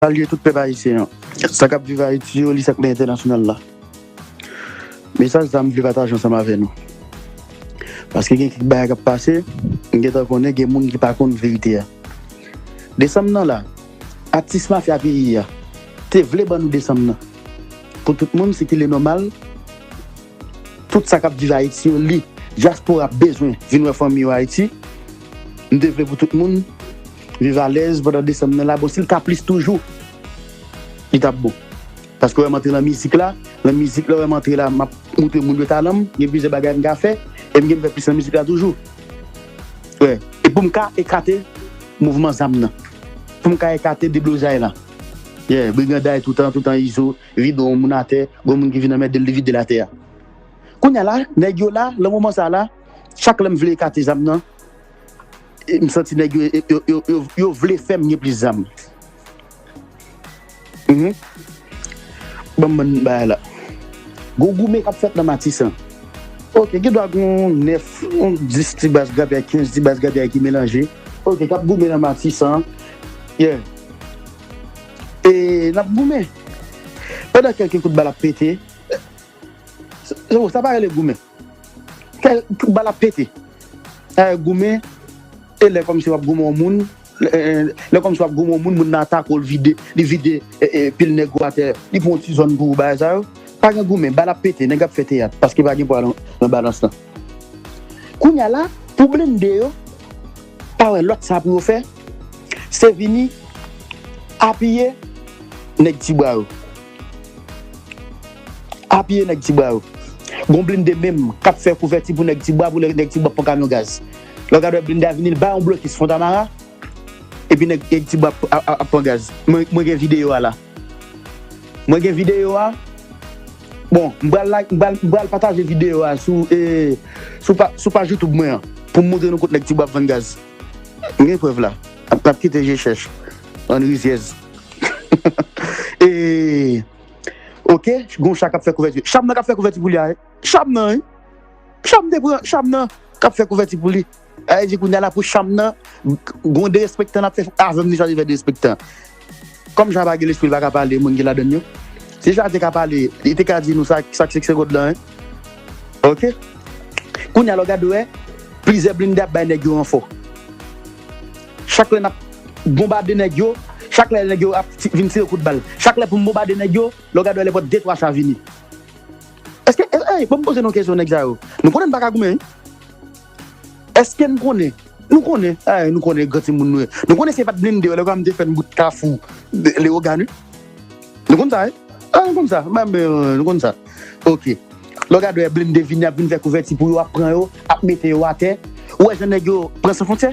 Salye tout pèp ayisyen an. Sa kap viv Ayiti yo li sak nan entènasyonal la. Mesaj sa m vle pataje ansanm avè nou. Paske gen kèk bagay kap pase, m gentan konnen gen moun ki pa konn verite a. Desanm nan la, atis mafya peyi a te vle ban nou desanm nan. Pou tout moun se kile nòmal tout sa kap viv Ayiti yo li dyaspora bezwen vin wè fanmi yo Ayiti. M te vle pou tout moun. Viv alèz pandan desanm nan la bon sil ka plis toujou li tap bon paske wèm antre nan mizik la nan mizik lè wèm antre la map moutre moun yo talanm gen plizyè bagay m ka fè em genm fè plis nan mizik la toujou wè e poum ka ekate mouvman zam nan poum ka ekate deblozay la yè briganday toutan toutan izo vide yon moun atè gon moun ki vin anmèdel li videl atè a kounya la nèg yo la nan moman sa la chak lèm vle ekate zam nan. M santi nèg yo yo vle fèm gen plis zam uhmm banm bann bagay la gon goumen kap fèt nan matisan ok gen dwa gon 9 on 10 ti baz grabi ak 15 ti baz grabi ki melanje ok kap goumen nan matisan yeah e nap goumen pandan kèlke kout bal ap pete sa pa rele goumen. Kè bal ap pete. Taye goumen e lè kòmsi wap goumen yon moun lè kòmsi wap goumen yon moun moun nan atake w li vide pil nèg ou atè li pran yon ti zòn pou ou bagay sa yo pa gen goumen bal ap pete nèg ap fè teyat paske pa gen pwa nan balans lan kounya la pou blende yo pa wè lòt sa pou yo fè se vini apiye nèg ti bwa yo. Apiye nèg ti bwa yo. Gon blinde menm kap fè kouvèti pou nèg ti bwa pou lè nèg ti bwa ap pran kamyon gaz. Lè w gade wè blinde a vini l bay yon blokis fontamara epi nèg nèg ti bwa ap pran gaz. Mwen gen videyo a la. Mwen gen videyo a. Bon m pral la m pral m pral pataje videyo a sou e sou pa sou paj youtube mwen an pou m moutre nou kot nèg ti bwa ap vann gaz. M gen prèv la. Nap kite je chèch bann rizyèz. E Ok gon chat kap fè kouvèti Cham nan kap fè kouvèti pou li a wi Cham nan wi Cham te pran Cham nan kap fè kouvèti pou li A e di kounya la pou Cham nan Gon derespektan nap fè avèm ni chat te fè derespektan Kòm chat pa gen lespri li pa ka pale moun ki ladann yo Si chat te ka pale li te ka di nou sak sak sekse kòd lan wi Ok Kounya la w gad wè Plizyè blinde ap bay nèg yo ranfò. Chak lè nap bonbade nèg yo, chak lè nèg yo ap vin tire kout bal, chak lè poum bonbade nèg yo, lèw gade lè pot de twa cha vini. Eske ey banm poze nou kesyon nèg sa yo nou konnen nou paka goumen wi eske nou konnen nou konnen ey nou konnen gran timoun nou ye nou konnen se pat blinde yo lè granm te fèn bout kafou lewogan wi nou konn sa wi ah nou konn sa banm ben nou konn sa ok lèw gade lè blinde vini ap vin fè kouvèti pou yo ap pran yo ap mete yo atè ou wè jan nèg yo pran san fontyè.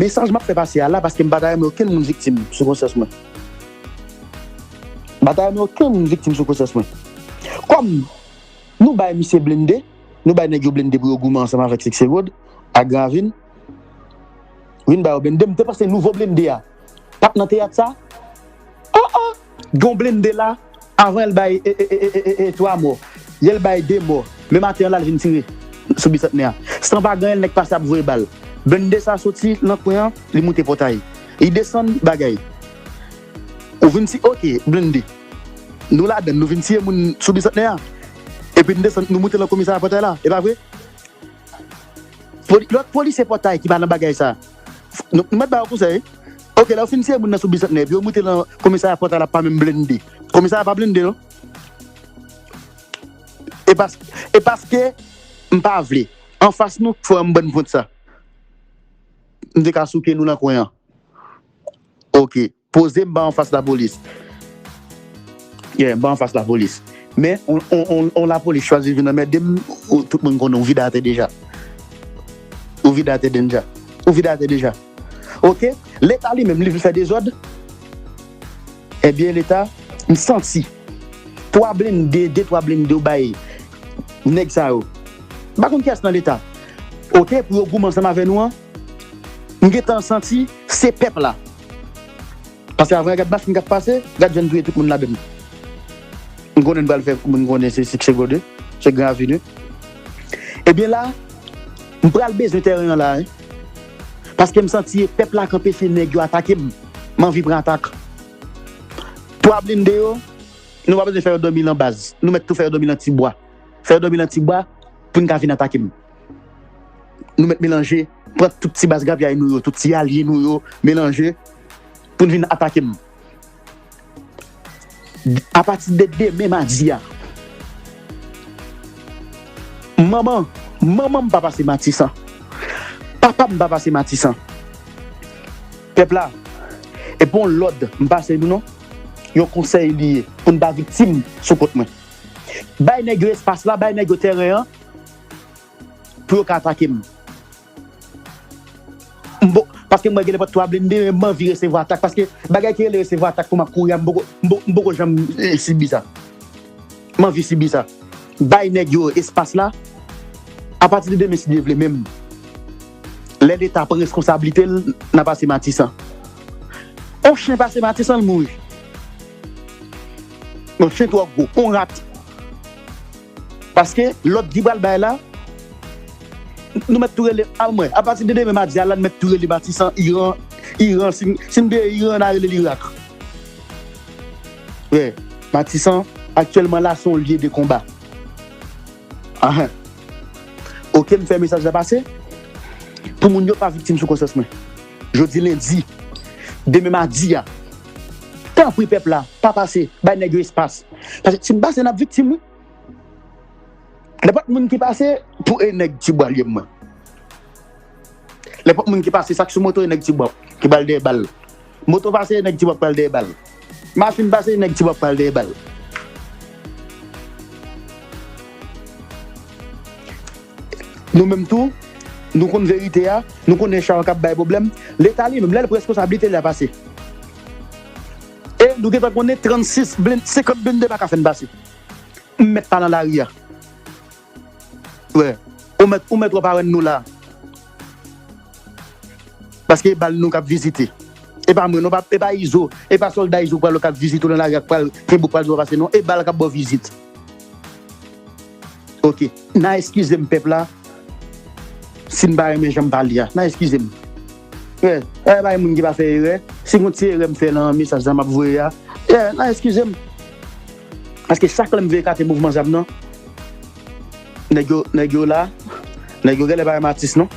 Mesaj map fè pase a la paske m pa ta renmen okenn moun viktim sou konsyans mwen. M pa ta renmen okenn moun viktim sou konsyans mwen. Kòm Nou bay misye blende, Nou bay nèg yo blende pou yo goumen ansanm avèk Siksè Rod ak Gran Ravin, vin ba yo blende, m te panse nouvo blende a pat nan teyat sa? An an! Gon blende la avan el bay 3 mò yel bay 2 mò le maten an lal vin tire sou bisantnè a san pa ganyen nèg pase ap voye bal blende sa soti nan kwen an li moute pòtay li desann bagay ou vin ti ok blende nou ladann nou vin tiye moun sou bisantnè a epi nou desann nou moute nan komisarya pòtay la epa vre lòt polisye pòtay ki pa nan bagay sa. Nou mèt ba yo konsèy. Ok lè yo fin tiye moun nan sou bisantnè epi yo moute lan komisarya pòta la pa menm blende. Komisarya pa blende non. E paske m pa vle. Anfas nou k fè yon bann pwent sa. M te ka souke nou nan kwen an. Ok. Poze m ba anfas lapolis. Yeah, m ba anfas lapolis. Men, on lapolis chwazi vin anmède m, tout moun konnen ou vide atè deja. Ou vide atè dennja. Ou vide atè deja. Ok? Leta li menm, li vle fè dezòd? Ebyen leta, m santi, twa blende, de twa blende ou bay nèg sa yo. M pa konn kiyès nan leta. Ok, pou yo goumen ansanm avè nou an. M gentan santi se pèp la. Pase avre a gad machin kap pase gad jan n touye tout moun ladann m konnen n pral fè moun konnen se sikse gode se gran aveni ebyen la m pral bezwen tèren an la wi paske m santi e pèp la k anpeche nèg yo atake m m anvi pran atak 3 blinde yo nou pa bezwen fè yo dòmi lan baz nou mèt tou fè yo dòmi lan ti bwa fè yo dòmi lan ti bwa pou n ka vin atake m. Nou mèt melanje, pran tout ti baz grapyay nou yo, tout ti alye nou yo, melanje pou n vin atake m. Apati de demen madi a, manman manman m pa pase Matisan, papa m pa pase Matisan. Pèp la, e pa yon lòd m pase nou non, yon konsèy li ye pou n pa viktim sou kont mwen. Bay nèg yo espas la, bay nèg yo tèren an. pou yo ka atake m. M poko, paske mwen gen nenpòt 3 blende men m anvi resevwa atak paske bagay ki rele resevwa atak pandan m ap kouri a m poko, m poko janm sibi sa. M anvi sibi sa. Bay nèg yo espas la. Apati de demen si Dye vle menm lè leta pran reskonsablite l nan pase matisan. On chen pase matisan l mouri. On chen twò gwo, on rat. Paske lòd ki pral bay la, nou mèt tou rele a mwen. Apati de demen madi a la nou mèt tou rele Matisan, Iran, Iran, si n deye Iran na rele l Irak. Frè, Matisan, aktyèlman la se yon lye de konba. Ahan. Ok m fè mesaj la pase pou moun yo pa viktim sou konsyans mwen. Jodi lendi, demen madi a, tanpri pèp la pa pase, bay nèg yo espas. Paske si m pase n ap viktim wi. Nenpòt moun ki pase pou e nèg ti bwa lye mwen. Nenpòt moun ki pase sa k sou moto e nèg ti bwa ki pral dèyè bal. Moto pase e nèg ti bwa pral dèyè bal. Machine pase neg ti wap pral deye bal. Nou menm tou Nou konn verite a Nou konnen chawa kap bay pwoblèm Leta li menm lèl pres konsablite li a pase E nou gentan konnen 36 blinde 50 blinde paka fèn pase M mèt pa nan lari a. Frè ou mèt ou mèt wap awenn nou la paske e bal nou kap vizite e pa mwen non e pa izo e pa solda izo pral kap vizite ou nan lari ak pral kenbe ou pral di wap pase non e bal kap baw vizit ok nan eskizem pèp la sin pa renmen janm pale a nan eskizem frè e bay moun ki pa fè erè si gon ti erè mfè nan mesaj sa map voye a nan eskizem. Paske sak lèm vle ekate mouvman zam nan nèg yo nèg yo la nèg yo gèlè pa renmen atis non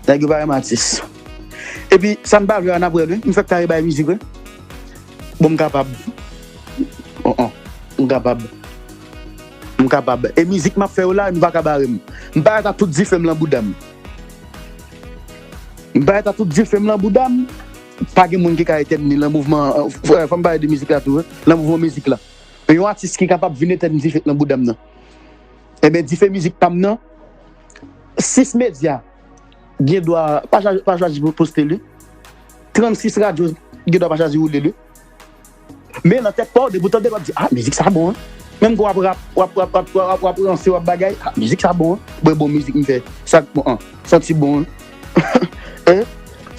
nèg yo pa renmen atis epi sa n pa vle a nap wè l wi m fèk kare bay mizik wi bon m kapab oh oh m kapab m kapab e mizik map fè yo la nou paka bare m m parèt a tout dife m lan bouda m m parèt a tout dife m lan bouda m. Pa gen moun ki ka etèn ni lan mouvman an, fòm pale de mizik la tou wi, lan mouvman mizik la. Men yon atis ki kapab vin etèn dife k lan boudam nan. Enben dife mizik pam nan, 6 medya gen dwa pa chwazi poste li, 36 radyo gen dwa pa chwazi woule li, Men nan tèt paw depi ou tandel wap di ah mizik sa bon an menm kou wap rap wap wap wap wap wap ranse wap bagay ah mizik sa bon an bon e bon mizik mfè sak bon an santi bon an eh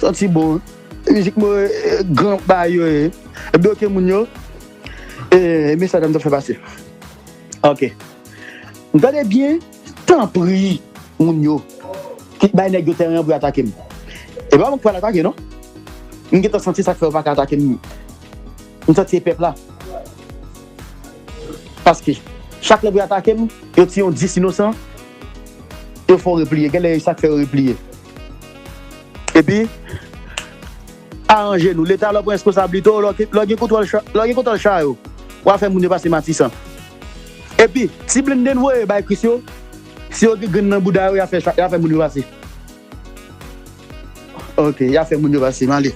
santi bon an mizik mwen eh gran bagay yo ye ebyen ok moun yo eh mesaj la mtap fè pase ok mtande byen. Tanpri moun yo kit bay nèg yo tèren an pou yo atake m. E pa mwen ki pral atake non. M gentan santi sak fè yo paka atake m. M santi e pèp la. Paske chak lè pou yo atake m, yo tiye yon 10 inosan, yo fè w repliye. Genlè e sak fè yo repliye. Epi. Aranje nou. Leta lè w pran responsablite w, lè w gen kontwòl lè w gen kontwòl cha yo, w'a fè moun yo pase matisan. Epi, ti blende n voye bay kris yo, si yo gen grenn nan bouda yo y'a fè y'a fè moun yo pase. Ok, y'a fè moun yo pase. M'ale.